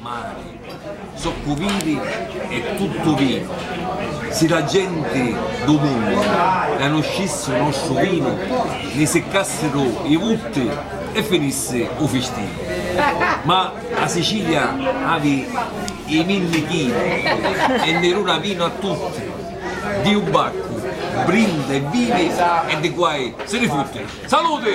mari, soccu viri e tuttu vinu, si la genti du munnu canuscissi u nostru vinu ni siccassiru i vutti e finissi u fistinu. Ma a Sicilia avi i minni chini e ni duna vinu a tutti, di u baccu brinda e vivi e di guai si ni futti. Saluti!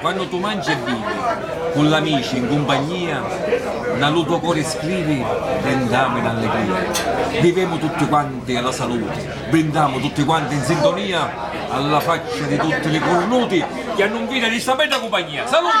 Quannu tu mangi e bivi cu l'amici in cumpagnia na lu to cori scrivi brindamu in alligria vivemu tutti quanti a la saluti brindamu tutti quanti in sintonia a la faccia di tutti li curnuti chi hannu nfida di sta bedda cumpagnia. Saluti!